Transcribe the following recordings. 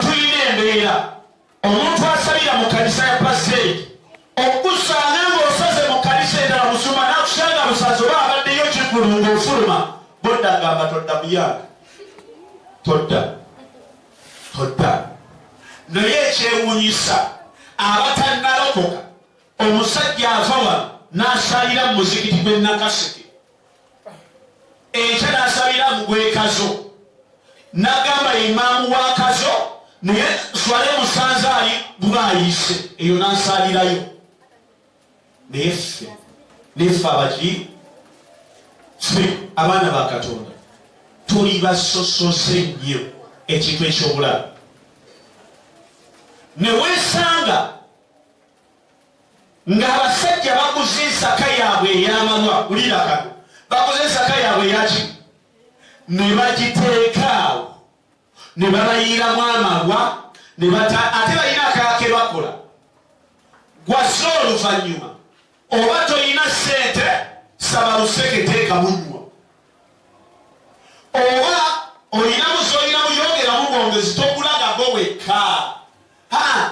tulina embeera omuntu asalira mu kanisa ya paseeri okusanga ng'osaze mu kanisa endala musuma nakusanga busazi oba abaddeyo kigulu ng'ofuluma bodda ngamba todda muyanga todda todda naye ekyewunyisa abatannalokoka omusajja ava wano n'asalira mu muzikiti gwe nakaseke enkya nasabira mugwekazo nagamba imaamu wa kazo naye swale musanze ali guba ayise eyo nansalirayo naye ffe neffe abaki ffe abaana ba katonda tuli basosose nnyo ekintu ekyobulamu newesanga ng'abasajja baguze ensaka yaabwe ey'amalwa wulira kano baguze ensaka yaabwe eyaki ne bagiteekaawo ne babayiiramu amalwa ate balina akake bakola gwazze oluvannyuma oba tolina ssente saba luseke teeka munywa oba olinamu zolinamu yongeramu bwongezi togulagago wekka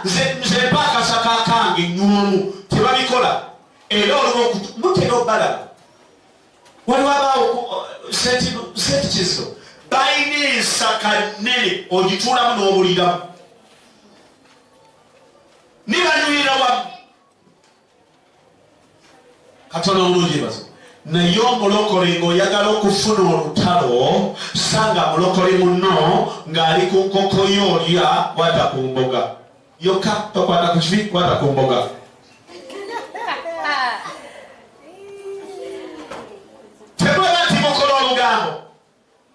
nze mpa akasaka kange nyumu tebabikola era oluba mutera obalaba waliwo abaawo sentikizo balina ensaka nene ogituulamu n'obuliramu nibanyuira wamu katonda omulungi bazo naye omulokole ng'oyagala okufuna olutalo sanga mulokole muno ng'ali ku nkoko yo olya kwata ku mboga yokka tokwata ku kibi kwata ku mboga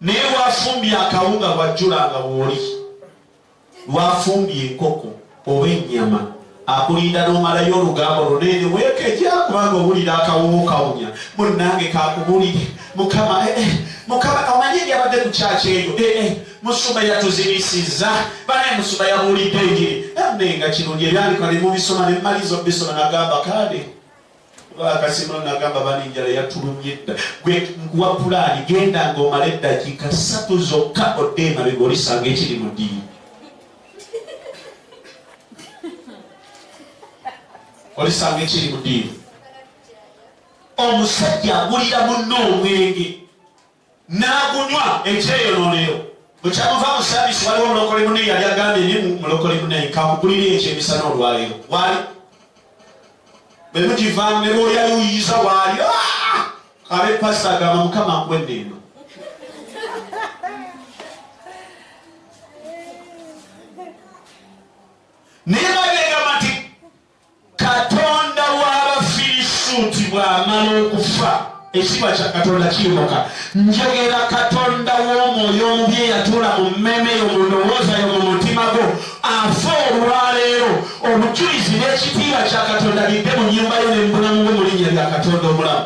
naye lwafumbye akawunga lwajjulanga wooli lwafumbye enkoko oba ennyama akulinda nomalayo olugambo lunene wekeja kubanga owulira akawuwo kawunya munange kakubulire mukama eh, eh, mukama omanye ebyabadde ku kyaki eyo eh, musumba yatuzibisiza banaye musumba yabuulidde enjiri naye nga kirungi ebyandikwa ne mubisoma ne mumaliza obisoma nagamba kade Kasima nagamba bani njala yatulumye dda gwe nkuwa pulaani genda nga omala eddakiika ssatu zokka odde emabega olisanga ekiri mu ddiini olisanga ekiri mu ddiini omusajja agulira munno omwenge n'agunywa ekyeyonoonero bwe kyamuva mu saabisi waliwo omulokole mune yali agambye ne mulokole mune kakugulira ekyo emisana olwaleero wali bwe mugivaamu ne lwolyayuyiza waali ah! kabe pasi agamba mukama nkwedde eno naye katonda w'abafirisuuti bw'amala okufa ekitiibwa kya katonda kiyimuka njogera katonda w'omwoyo omubi eyatuula mu mmeeme yo mu ndowooza yo mu mutima gwo afa olwaleero obujulizi n'ekitiibwa kya katonda bidde mu nyumba yo ne mu bulamu bwo mu linnya lya katonda omulamu